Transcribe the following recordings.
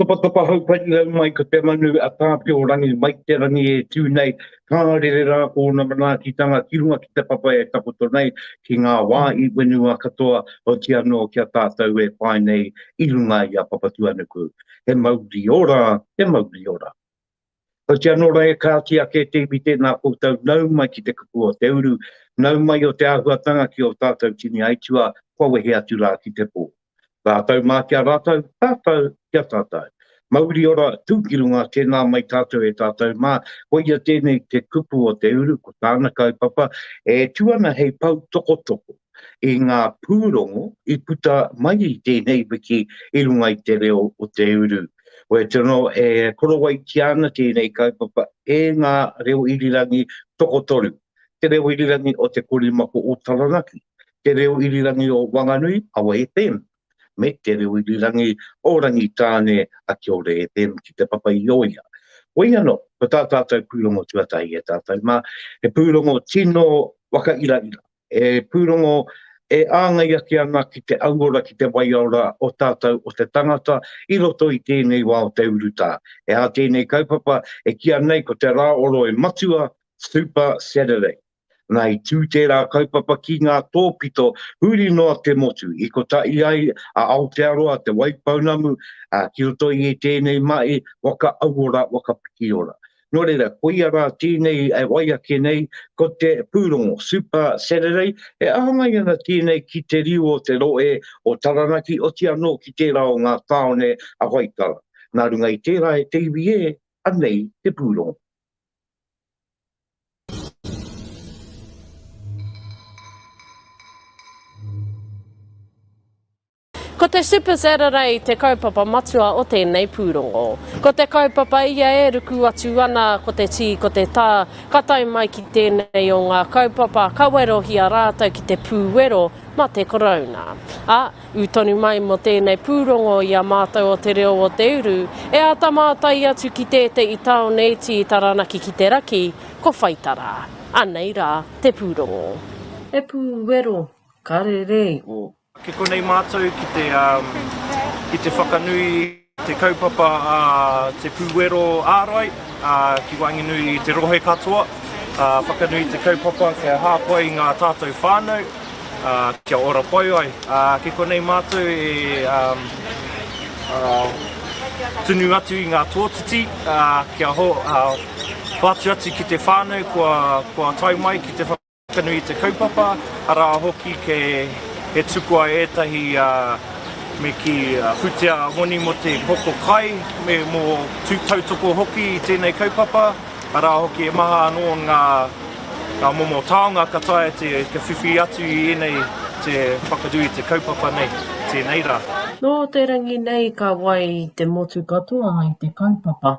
Topatopa hau pari hau mai ko te manu a Tāwhiorangi Maiterangi e tū nei, ka rere rā ōna manaakitanga ki runga ki te papa e takoto nei ki ngā wā i wenua katoa, oti anō ki a tātou e pae nei i runga i a Papatuanuku. He mauri ora, he mauri ora. Otia nō reira ka oti ake te iwi tēnā koutou nau mai ki te kupu o te uru, nau mai o te āhuatanga ki ō tātou tini aituā kua wehe atu rā ki te pō. Rātou mā ki a rātou, tātou ki a tātou. Mauri ora, tū ki runga, tēnā mai tātou e tātou mā, koia tēnei te kupu o te uru, ko tāna kaupapa e tū ana hei pou tokotoko i ngā pūrongo i puta mai i tēnei wiki i runga i te reo o te uru. Wai te no e korowai ki ana tēnei kaupapa e ngā reo irirangi tokotoru, Te Reo Irirangi o Te Korimako o Taranaki, Te Reo Irirangi o Wanganui, Awa FM, me Te Reo Irirangi o Rangitāne, a Kia Ora FM ki te papa i o ia. Wai ano, ko tā tātou pūrongo tuatahi e tātou mā, he pūrongo tino whakairaira, E pūrongo, e āngai ake ana ki te auora, ki te waiora o tātou, o te tangata, i roto i tēnei wā o te urutā. He aha tēnei kaupapa e kīa nei ko te rā o Roe Matua, Super Saturday. Nā, i tū tērā kaupapa ki ngā tōpito huri noa te motu, i kotahi ai a Aotearoa, Te Waipounamu, ā, ki roto i ētēnei mahi waka auora, waka pikiora. Nō reira, ko ia rā tēnei e wai ake nei, ko te pūrongo, Super Saturday, e āhangāi ana tēnei ki te riu o te rohe o Taranaki, oti anō ki tērā o ngā tāone a Waitara. Nā runga i tērā e te iwi e, anei te pūrongo. Ko te Super Saturday te kaupapa matua o tēnei pūrongo. Ko te kaupapa ia e ruku atu ana ko te tī, ko te tā, ka tae mai ki tēnei o ngā kaupapa ka werohia rātou ki te pū wero ma te Korouna. A, ū tonu mai mo tēnei pūrongo i a mātou o Te Reo o Te Uru, e āta mātai atu ki tēteʻi tāone iti i Taranaki ki te raki, ko Whaitara. Anei rā te pūrongo. He pū wero ka rere iho. Ki konei mātou ki te, ki te whakanui te kaupapa a Te Pūwero Ārai ki waenganui i te rohe katoa, whakanui te kaupapa kia hāpai i ngā tātou whānau, kia ora pai ai. Ki konei mātou e tunu atu i ngā tōtiti kia hoatu atu ki te whānau kua tae mai ki te whakaaro. Ka nui te kaupapa, arā hoki ke he tuku ai ētahi me ki whutia moni mo te hoko kai me mo tautoko hoki i tēnei kaupapa, arā hoki he maha anō ngā momo taonga ka taea te whiwhi atu i ēnei te whakanui i te kaupapa nei, tēnei rā. Nō te rangi nei ka wai te motu katoa i te kaupapa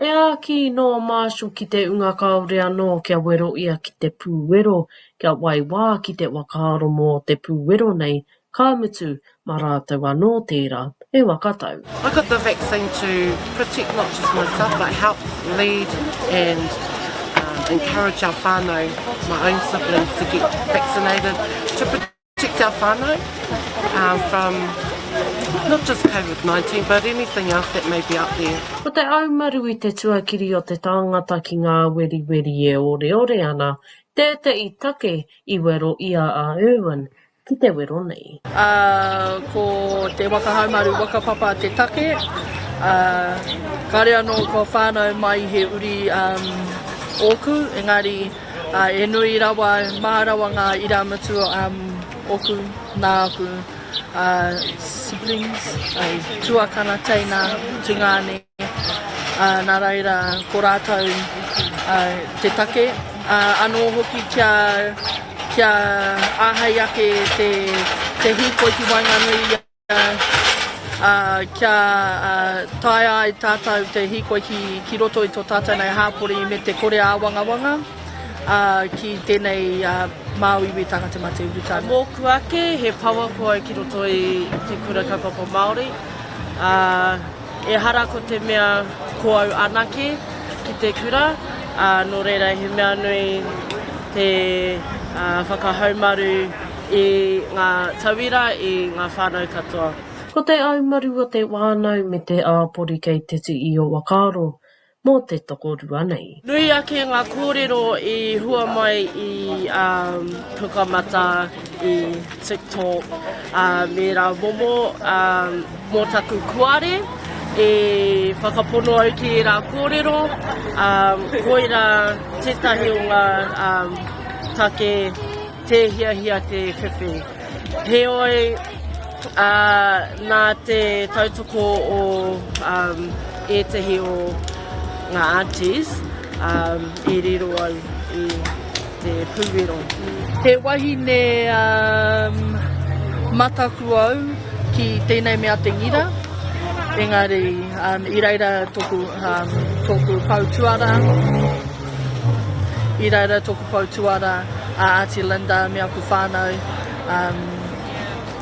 E āki nō Marshall ki te unga kāore anō kia wero ia ki te pūwero, kia waiwā ki te whakaaro mō te pūwero nei, ka mutu, mā rātou anō tērā, he waka tau. I got the vaccine to protect not just myself but help lead and encourage our whānau, my own siblings to get vaccinated to protect. Tika whanau, uh, from not just COVID-19, but anything else that may be out there. Ko te aumaru i te tuakiri o te tāngata ki ngā weriweri e oreore ana, tēteʻi take i wero i a a Irwin ki te wero nei. Uh, ko te waka haumaru wakapapa te take, uh, kare anō ko whānau mai he uri um, ōku, engari Ā, e nui rawa, mā rawa ngā irāmutu a ōku, nā āku siblings, tuakana, teina, tungāne, ā, nā reira, ko rātou te take, ā, anō hoki kia, kia āhei ake te, te hīkoi ki waenganui i a. ā, kia taea ai tātou te hīkoi ki, ki roto i tō tātou nei hāpori me te kore āwangawanga ā, ki tēnei ā, māu iwi Tangata mā te urutau. Mōku ake, he power koi ki roto i te kura kaupapa Māori, ā. Ehara ko te mea ko au anake ki te kura, ā, nō reira he mea nui te whakahaumaru i ngā tauira, i ngā whānau katoa. Ko te aumaru o te wānau me te āpori kei te tii o Wakaaro, mō te tokorua nei. Nui ake ngā kōrero i hua mai i um, Pukamata, i TikTok, uh, me rā momo um, mō taku kuare, e whakapono au ki rā kōrero, um, koira tētahi o ngā um, take tēhiahia te whiwhi. Heoi, ā, nā te tautoko o ētahi o ngā aunties i riro au i te pūwero. He wahine mataku au ki tēnei mea te ngira, engari i reira tōku pou tuarā, i reira tōku. Pou tuara a Aunty Linda me aku whanau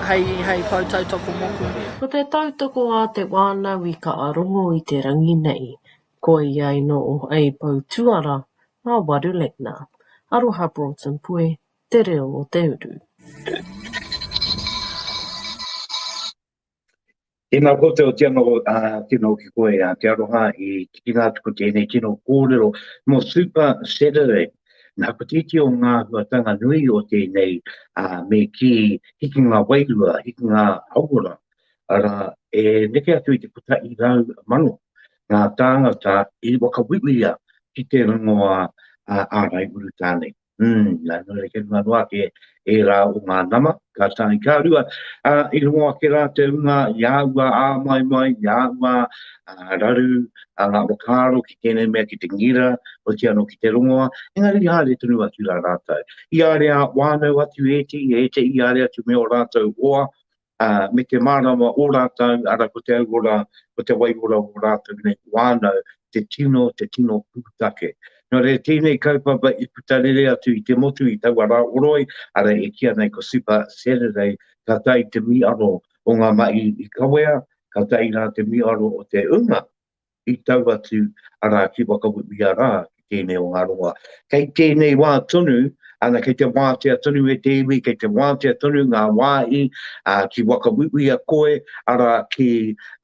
hei pou tautoko moku. Ko te tautoko a te wānau i ka arongo i te rangi nei, koia i noo hei pou tuara a Waru Legna. Aroha Broughton Pue, Te Reo o Te Uru. Tēnā koutou tino tino ki koe a te aroha i tikinga atu ko tēnei tino kōrero mo Super Saturday. Nā ko tēti o ngā huatanga nui o tēnei a me ki hiki ngā wairua, hiki ngā hauora, ara e neke atu i te puta i rau mano ngā tāngata i wakawiwia ki te rongoa a ārai uru tāne. Mm, nā nō reke runga noa ke e rā o ngā nama, ka tāi kā rua. Ā, i rongo ake rā te runga i āua ā mai mai, i āua ā raru, ā ngā whakaaro ki tēnei mea ki te ngira, o ki anō ki te rongoa, engari i āre tonu atu rā rātou. I āre ā wānau atu e te i e te i āre atu me o rātou oa, ā, me te mārama ō rātou, arā, ko te auora, ko te waiora o rātou nei whānau, te tino, te tino pūtake. Nō reira, tēnei kaupapa i puta rere atu i te motu i taua rā o Roe, arā, e kīa nei ko Super Saturday, ka tae te mīaro o ngā mahi i kawea, ka tae rā te mīaro o te ūnga. i tau atu arā ki Wakawewe arā, ki tēnei o ngā rongoā. Kei tēnei wā tonu, ana kei te wātea tonu e te iwi, kei te wātea tonu ngā wāhi ki Wakawewe a koe, arā ki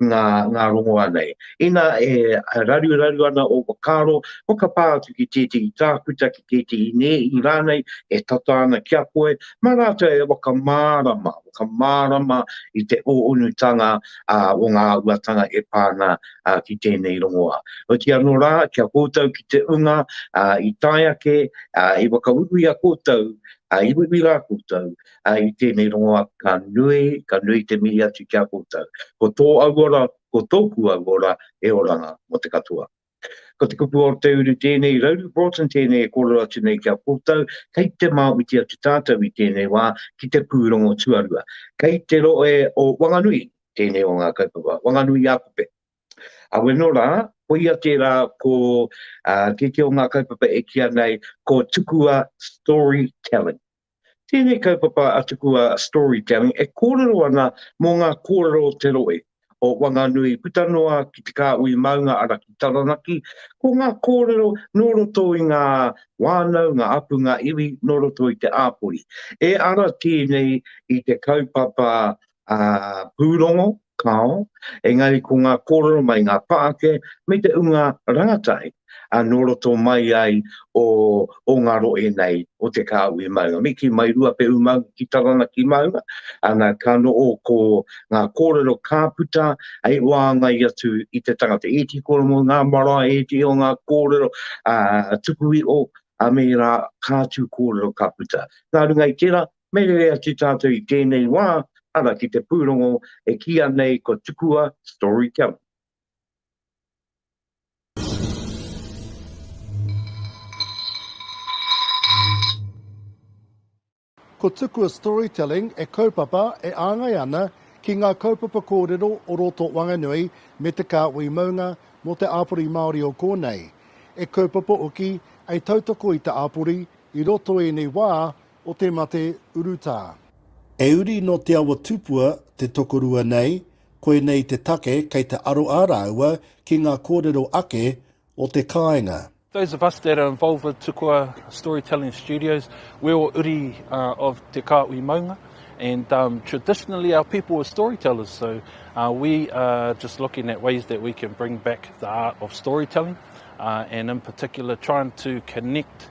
ngā, ngā rongoā nei. Inā e raruraru ana ō whakaaro, whakapā atu ki tētehi tākuta, ki tētehi nēhi rānei e tata ana ki a koe, mā rātou e whakamārama, whakamārama i te ō-unutanga, uh, o ngā uatanga e pā ana uh, ki tēnei rongoa. Oti anō rā, kia koutou ki te unga uh, i tae ake, uh, i wakawiwi a koutou, uh, i wiwi rā koutou, uh, i tēnei rongoa ka nui, ka nui te mihi atu ki a koutou. Ko tō auora, ko tōku auora, e oranga mo te katoa. Ko te kupu o te uru tēnei, Rauru Broughton tēnei e kōrero atu nei ki a koutou, kei te māuti atu tātou i tēnei wā ki te pūrongo tuarua. Kei te rohe o Wanganui tēnei o ngā kaupapa, Wanganui-ā-Kope. Aweno rā, koia tērā ko tētē o ngā kaupapa e kīa nei ko Tukua Storytelling. Tēnei kaupapa a tuku a Storytelling e kōrero ana mō ngā kōrero o te rohe, o Wanganui puta noa ki Te Kāhui Maunga ara ki Taranaki, ko ngā kōrero nō roto i ngā whānau, ngā hapū, ngā iwi nō roto i te āpori. E ara tēnei i te kaupapa pūrongo, kāo, engari ko ngā kōrero mai ngā pāke me te unga rangatahi nō roto mai ai o ngā rohe nei o Te Kāhui Maunga. Me kī, mai Ruapehu Maunga ki Taranaki Maunga, ana, ka noho ko ngā kōrero ka puta hei wāngai atu i te tangata. Ēti kōrero, ngā marae, ēti o ngā kōrero tuku iho, me ērā kātū kōrero ka puta. Nā runga i tērā, Me rere atu tātou i tēnei wā, ara ki te pūrongo e kīia nei ko Tukua Storytelling. Ko Tukua Storytelling e kaupapa, e āngai ana ki ngā kaupapa kōrero o roto Wanganui me te kāhui maunga mō te āpori Māori o kōnei. E kaupapa hoki, e tautoko i te āpori i roto ēnei wā O te mate urutā. He uri nō Te Awa Tupua te tokorua nei, koinei te take kei te aro ā rāua ki ngā kōrero ake o te kāinga. Those of us that are involved with Tukua Storytelling Studios, we're all uri of te Kāhui Maunga and traditionally our people were storytellers so we are just looking at ways that we can bring back the art of storytelling and in particular trying to connect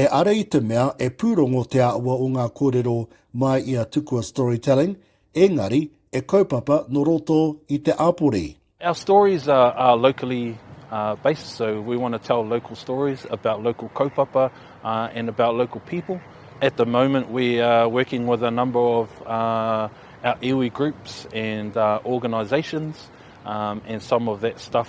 E ara i te mea e pūrongo te āhua o ngā kōrero mai i a Tukua Storytelling, ēngari, e kaupapa nō roto i te āpori. Our stories are locally based, so we want to tell local stories about local kaupapa and about local people. At the moment we are working with a number of our iwi groups and organisations and some of that stuff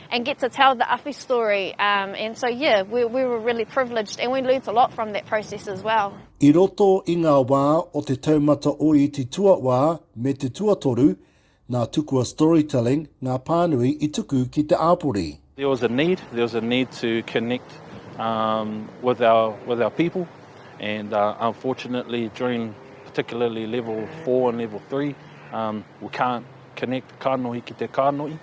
and get to tell the awhi story um and so yeah we we were really privileged and we learnt a lot from that process as well. I roto i ngā wā o te taumata o iti tuawā me te tuatoru, nā Tukua Storytelling ngā pānui i tuku ki te āpori. There was a need, there was a need to connect um with our with our people and uh unfortunately during particularly level four and level three um we can't connect kanohi ki te kanohi.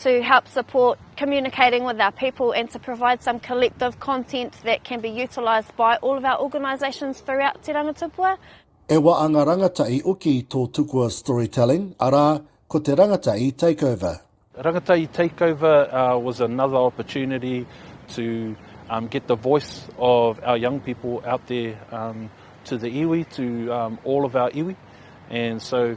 to help support communicating with our people and to provide some collective content that can be utilised by all of our organisations throughout Te Rangatupua. E wa a nga rangata i oki i to tukua storytelling, ara, ko te rangata i takeover. Rangata i takeover was another opportunity to um, get the voice of our young people out there um, to the iwi, to um, all of our iwi. And so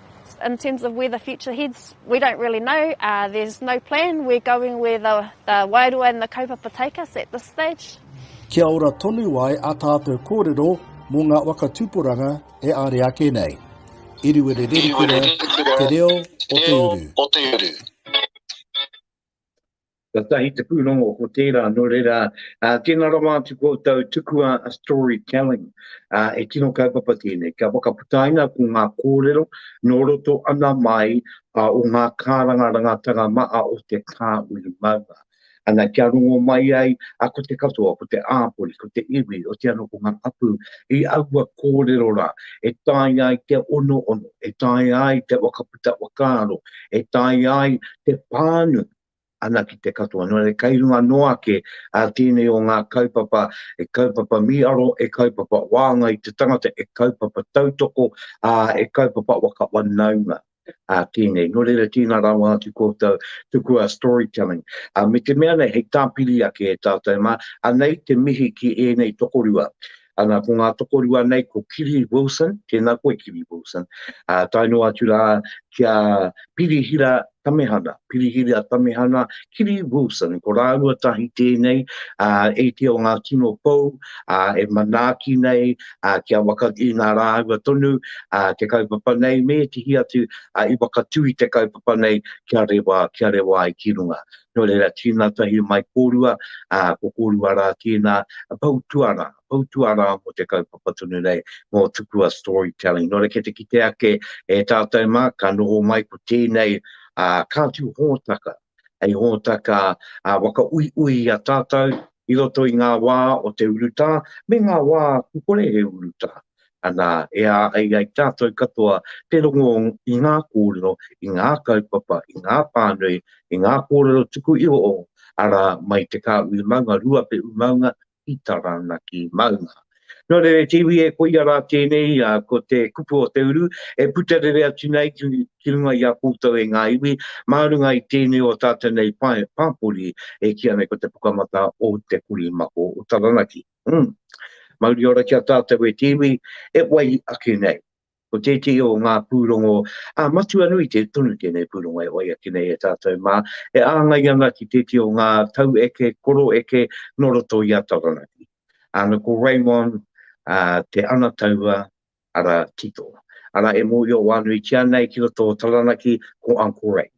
In terms of where the future heads, we don't really know, there's no plan, we're going where the wairua and the kaupapa take us at this stage. Kia ora tonu ai a tātou kōrero mō ngā waka tūporanga e are ake nei. Iriwererekura te reo o te uru. Katahi te pūrongo ko tērā, nō reira, tēnā rawa atu koutou tukua a story telling, e tino kaupapa tēnei, kia whakaputaina ko ngā kōrero nō roto ana mai o ngā kāranga rangatanga maha o te kāuru maunga. Ana, kia rongo mai ai, ko te katoa, ko te āpori, ko te iwi, otiano ko ngā hapū, i aua kōrero rā, e taea ai te onoono, e taea ai te whakaputa whakaaro, e taea ai te pānui, ana ki te katoa. Nō reira, kei runga noa ake ā tēnei o ngā kaupapa, e kaupapa mīaro, e kaupapa wānanga i te tangata, e kaupapa tautoko, ā, e kaupapa waka wanaunga ā tēnei. Nō reira, tēnā rawa atu koutou, tukua storytelling. Ā, me te mea nei, hei tāpiri ake e tātou mā, anei te mihi ki ēnei tokorua. Ana, ko ngā tokorua nei, ko Kiri Wilson, tēnā koe Kiri Wilson, uh, tae noa atu rā ki a Pirihira Tamehana, Pirihira Tamehana, Kiri Wilson, ko rāua tahi tēnei, uh, e te o ngā tino pou, uh, e manaaki nei, uh, ki a waka i nā rāua tonu, uh, te kaupapa nei, me te hi atu, uh, i wakatū i te kaupapa nei, kia rewa, kia rewa ai ki runga. Nō reira, tīna tahi mai kōrua, ā, ko kōrua rā tīna pou tuarā, pou tuarā mō te kaupapa tonu nei, mō tukua storytelling. Nō reira, ki te kite ake e tātou mā, ka noho mai ko tēnei kāti hōtaka, hei hōtaka waka uiui i a tātou i roto i ngā wā o te urutā, me ngā wā kore he urutā. Anā, e āhei ai tātou katoa te rongo i ngā kōrero, i ngā kaupapa, i ngā pānui, i ngā kōrero tuku iho o, arā, mai te kāhui maunga Ruapehu maunga ki Taranaki maunga. Nō reira, te iwi e koia rā tēnei, ā, ko te kupu o te uru e puta rere atu nei ki, ki runga i a koutou e ngā iwi, mā runga i tēnei o tātou nei pae pāpori e kīa nei ko Te Pukamata o Te Korimako o Taranaki. Mm. Mauri ora ki a tātou e te iwi, e wai ake nei. Ko tētehi o ngā pūrongo, a matua nui te tonu tēnei pūrongo e wai ake nei e tātou mā, e āngai ana ki tētehi o ngā tau eke, koro eke, no roto i a Taranaki. Āna ko Raymond, a, te ana taua, ara, tito. Ara e mōhio wānuitia nei ki roto o Taranaki, ko Uncle Ray.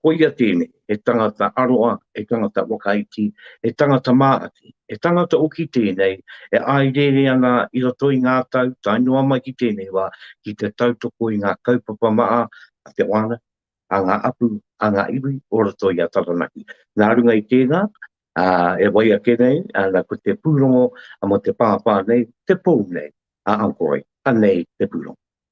Koia tēnei, he tangata aroha, he tangata whakaiti, he tangata māhaki, he tangata hoki tēnei e āirere ana i roto i ngā tau tae noa mai ki tēnei wā ki te tautoko i ngā kaupapa maha a te whānau, a ngā hapū, a ngā iwi o roto i a Taranaki. Nā runga i tēnā, e wai ake nei ana ko te pūrongo mō te pāpā nei, te pou nei a Uncle Roy. Anei te pūrongo.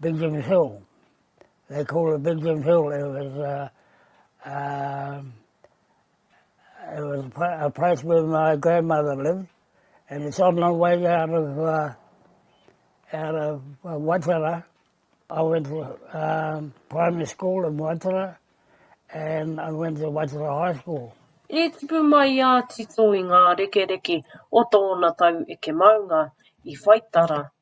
Benjamin Hill. They called it Benjamin Hill. It was, uh, uh, it was a place where my grandmother lived. And it's on the way out of, uh, out of uh, Watara. I went to um, primary school in Watara. And I went to Watara High School. I tipu mai a Tito i ngā rekereke o tōna tau eke maunga i Whaitara.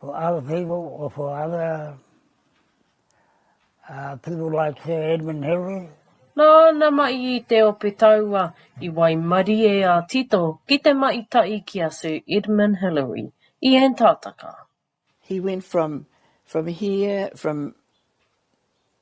Ko Al Feeble o Whakaata, a people like Sir Edmund Hillary. Nāna mai i te ope taua i waimarie a Tito ki te mahi tahi ki a Sir Edmund Hillary i Antarctica. He went from from here from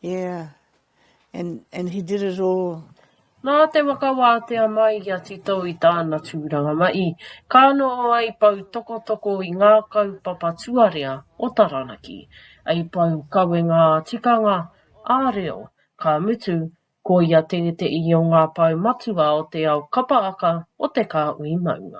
Yeah and and he did it all. Nā te whakawātea mai i a Tito i tāna tūranga mahi, ka noho ai pou tokotoko i ngā kaupapa tuarea o Taranaki, ai pou kawenga ā-tikanga, ā-reo, ka mutu, ko ia tētehi o ngā pou matua o te ao kapa aka o Te Kāhui Maunga.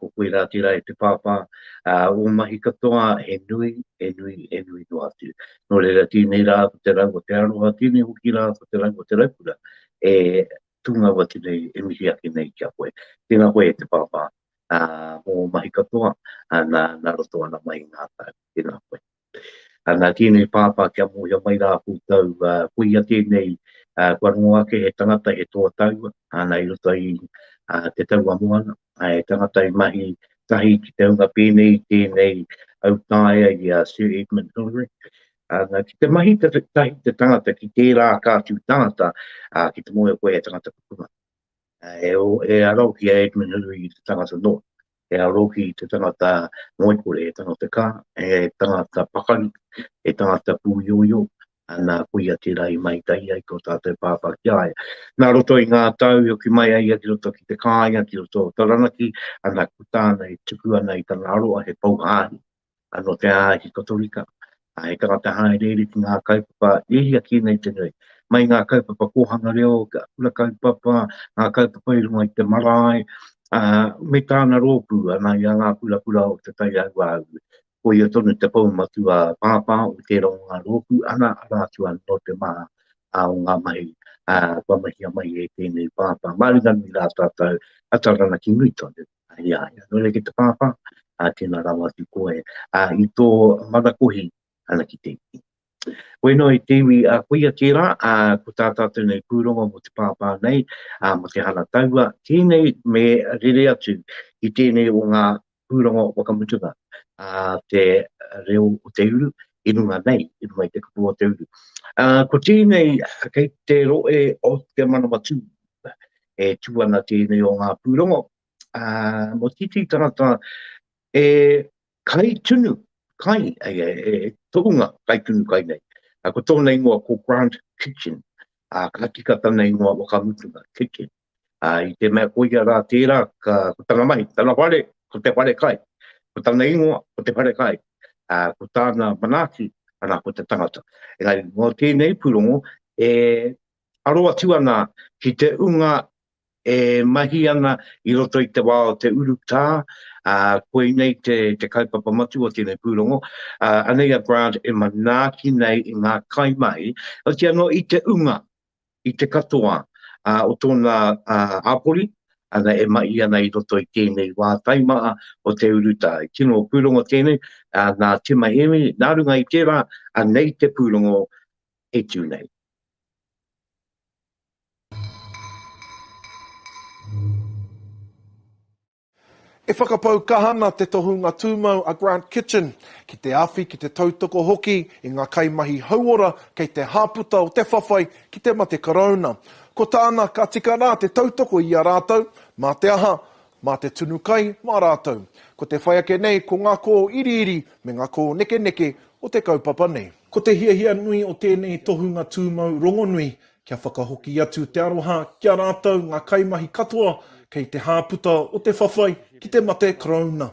Ko koirā tērā e te pāpā, ā, ō mahi katoa he nui, he nui, he nui noa atu. Nō reira, tēnei rā ko te rau o te aroha, tēnei hoki rā ko te rau o te raukura e tūngau atu nei, e mihi ake nei ki a koe. Tēnā koe e te pāpā, ā, mō ō mahi katoa, ā, nā, nā roto ana mai i ngā tau. Tēnā koe. A nā tēnei pāpā kia mōhio mai rā koutou, ko ia tēnei kua rongo ake he tangata, he toa taua, ana i roto i te taua moana, he tangata i mahi tahi ki te hunga pēnei i tēnei au taea i a Sir Edmund Hillary. Ana, ki te mahi tahi te tangata ki tērā kātū tangata, ki te mōhio koe he tangata pukuna. e o, e aro ki a Edmund Hillary i te tangata noa, e aro ki te tangata ngoikore, e tangata ka, e tangata pakari, e tangata pūioio, ana kuia tērā i mai tai ai ko tātou pāpā ki aia. Nā roto i ngā tau i oki mai ai ki roto ki te kāinga, ki roto o Taranaki, ana ku tāna e tuku ana i tana aroa he pau hāhi, Ka notea ai ki Kotorika, ka heke rā te hāereere ki ngā kaupapa e hia kē nei te nui. Mai i ngā kaupapa kōhanga reo, ngā kura kaupapa, ngā kaupapa i runga i te marae, ā, me tāna rōpū, anā, i a Ngā Kura Kura o Te Tai Auāuru. Ko ia tonu te pou matua pāpā o tērā o ngā rōpū, anā, arā atu anō te maha o ngā mahi, ā, kua mahia mai e tēnei pāpā. Māringanui rā tātou, a Taranaki nui tonu. Ia, ia nōna ki te pāpā, ā, tēnā rawa atu koe, ā, i tō manakohi ana ki te iwi. Koe noa i te iwi a kuia kē rā, ā, ko tā tātou nei pūrongo mō te pāpā nei, ā, mō te hara taua, tēnei me rere atu i tēnei o ngā pūrongo whakamutunga, ā, te reo o te uru, i runga nei, i runga i te kapua o te uru. Ā, ko tēnei kei te rohe o te manawa tū, e tū ana tēnei o ngā pūrongo. Ā, mō titi tangata e kai tunu kai, ai, e, e, e tohunga kai tunu kai nei. A, ko tōna ingoa ko Grant Kitchen, a, ka tika tana ingoa wakamutunga, Kitchen. A, i te mea koia rā tērā, ka, ko tana mahi, tana whare, ko te whare kai. Ko tana ingoa, ko te whare kai. A, ko tāna manaaki, ana, ko te tangata. Engari, mō tēnei pūrongo, e aro atu ana ki te unga e mahi ana i roto i te wā o te urutā, ā, koinei te, te kaupapa matua o tēnei pūrongo, ā, anei a Grant e manaaki nei i ngā kaimahi, oti anō i te unga, i te katoa ā, o tōna ā, āpori, ana e mahi ana i roto i tēnei wā taimaha o te urutā. He tino pūrongo tēnei ā, nā Tima Hēmi, nā runga i tērā, anei te pūrongo, kei tuu nei. E whakapau kaha ana te tohunga tūmau a Grant Kitchen ki te awhi, ki te tautoko hoki i ngā kaimahi hauora kei te hāputa o te whawhai ki te mate Karauna. Ko tāna, ka tika rā te tautoko i a rātou, mā te aha, Mā te tunu kai, mā rātou. Ko te whai ake nei, ko ngā kōiriiri me ngā kōnekeneke o te kaupapa nei. Ko te hiahia nui o tēnei tohunga tūmau rongonui, kia whakahoki atu te aroha ki a rātou ngā kaimahi katoa kei te hāputa o te whawhai ki te mate Karauna.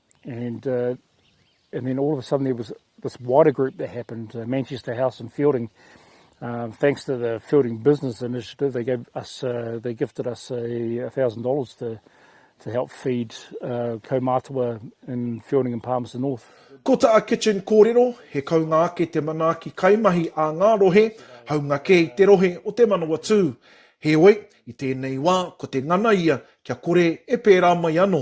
And uh, and then all of a sudden there was this wider group that happened, uh, Manchester House and Feilding. Um, thanks to the Feilding Business Initiative, they gave us, uh, they gifted us a thousand dollars to to help feed uh, kaumātua in Feilding and Palmerston North. Ko tā Kitchen Kōrero, he kaunga ake te manaaki kaimahi a ngā rohe, haunga kē i te rohe o Te Manawatū. Heoi, i tēnei wā, ko te ngana ia kia kore e pērā mai anō.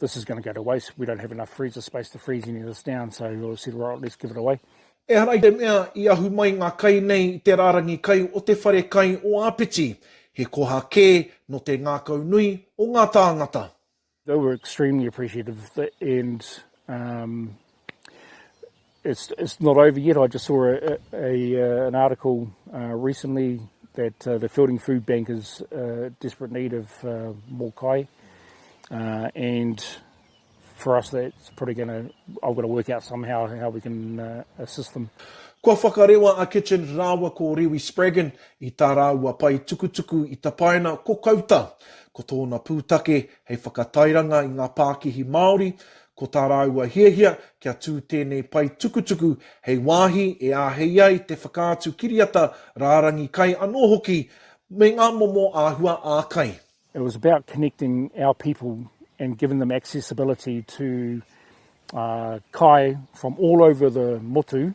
This is going to go to waste, we don't have enough freezer space to freeze any of this down, so we said well at least give it away. Ehara i te mea i ahu mai ngā kai nei i te rārangi kai o te whare kai o Āpiti, he koha kē nō te ngākaunui o ngā tāngata. They were extremely appreciative and It's it's not over yet. I just saw a, a, a an article uh, recently that uh, the Fielding Food Bank is uh, desperate need of uh, more kai, uh, and for us that's probably going to I've got to work out somehow how we can uh, assist them. Kua whakarewa a Kitchen rāua ko Rewi Spraggon i tā rāua pae tukutuku i tapaina ko Kauta. Ko tōna pūtake hei whakatairanga i ngā pākihi Māori, Ko tā rāua hiahia kia tū tēnei pae tukutuku hei wāhi e āhei ai te whakaatu kiriata rārangi kai anō hoki me ngā momo āhua ā-kai. It was about connecting our people and giving them accessibility to kai from all over the motu,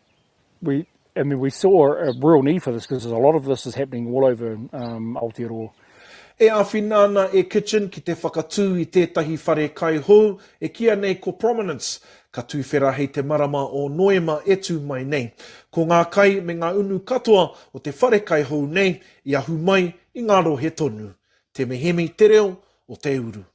we I mean we saw a real need for this because a lot of this is happening all over um Aotearoa. E āwhina ana e Kitchen ki te whakatū i tētahi whare kai hou e kīa nei ko Prominence, ka tuwhera hei te marama o Noema e tū mai nei. Ko ngā kai me ngā unu katoa o te whare kai hou nei i ahu mai i ngā rohe tonu. Temehemi te reo o te uru.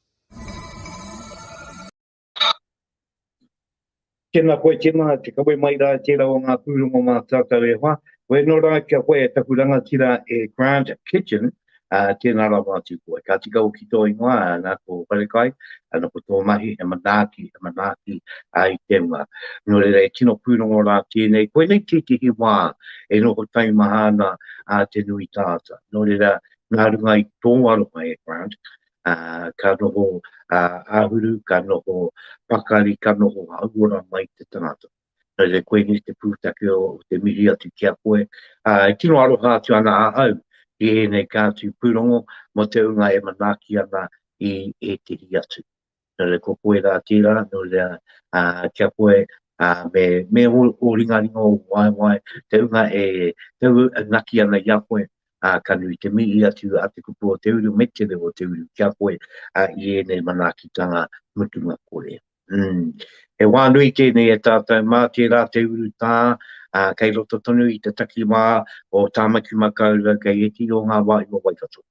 Tēnā koe, tēnā te kawe mai rā, tērā o ngā pūrongo mā tātou e wha. Koe anō rā kia koe e taku rangatira e Grant Kitchen, ā, tēnā rawa atu koe. Ka tika hoki tō ingoa, ā, nā tō wharekai, ā, nō ko tō mahi, he manaaki, he manaaki, ā, i te hunga. Nō reira, e tino pūrongo rā tēnei, koinei tētehi wā e noho taimaha ana, ā, te nui tāta. Nō reira, nā runga i tō aroha e Grant, ka noho āhuru, ka noho pakari, ka noho hauora mai te tangata. Nō reira koinei te pūtake o te mihi atu ki a koe. E tino aroha atu ana ahau ki ēnei kātū pūrongo mō te ūnga e manaaki ana i ētehi atu. nō reira ko koe rā tērā, nō reira ki a koe me ōringaringa ō waewae, te hunga e taunaki ana i a koe, ka nui te mihi atu a te kupu o te uru me te reo o te uru ki a koe i ēnei manaakitanga mutunga kore. Umm. He wā nui tēnei e tātou mā tērā te urutā kei roto tonu i te takiwā o Tāmaki Makaurau kei ētehi o ngā wāhi o Waikato.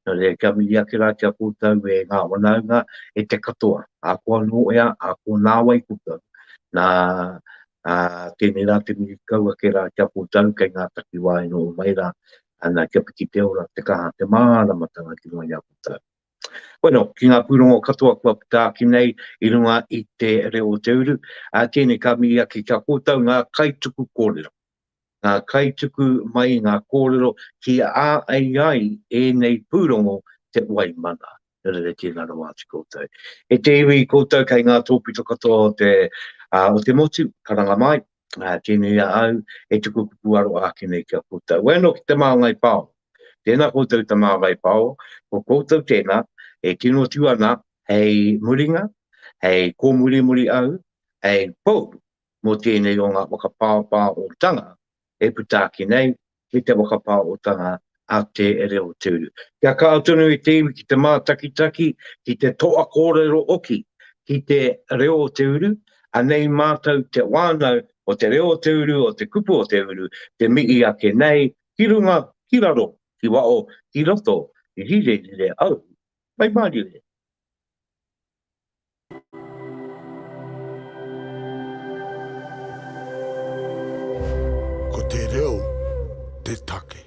Nō reira, kia mihi ake rā ki a koutou e ngā whanaunga, e te katoa, ahakoa nō ea, ahakoa nāwai koutou, nā, ā, tēnei rā te mihi kau ake rā ki a koutou kei ngā takiwā e noho mai rā, ana, kia piki te ora, te kaha, te māramatanga ki runga i a koutou. Bueno, ki ngā pūrongo katoa kua puta ake nei i runga i te reo o te uru, ā, tēnei ka mihi ake ki a koutou ngā kaituku kōrero. ngā kaituku mai ngā kōrero ki a ai ai ēnei pūrongo te wai mana. Nō reira tēnā rawa atu koutou. E te iwi koutou kei ngā tōpito katoa o te, o te motu, karanga mai, tēnei a au e tuku kupu aro ake nei ki a koutou. Wai anō ki te māngai pao. Tēnā koutou i te māngai pao, ko koutou tēnā e tino tū ana hei muringa, hei kōmurimuri au, hei pou mō tēnei o ngā whakapāpāotanga e puta ake nei, me te whakapāotanga a Te Reo Te Uru. Kia kaha tonu e te iwi ki te mātakitaki, ki te toa kōrero hoki ki Te Reo Te Uru, anei mātou te whānau o Te Reo Te Uru, o te kupu o te uru, te mihi ake nei, ki runga, ki raro, ki waho, ki roto, rire rire au, mai māriu e. Ko te reo te take.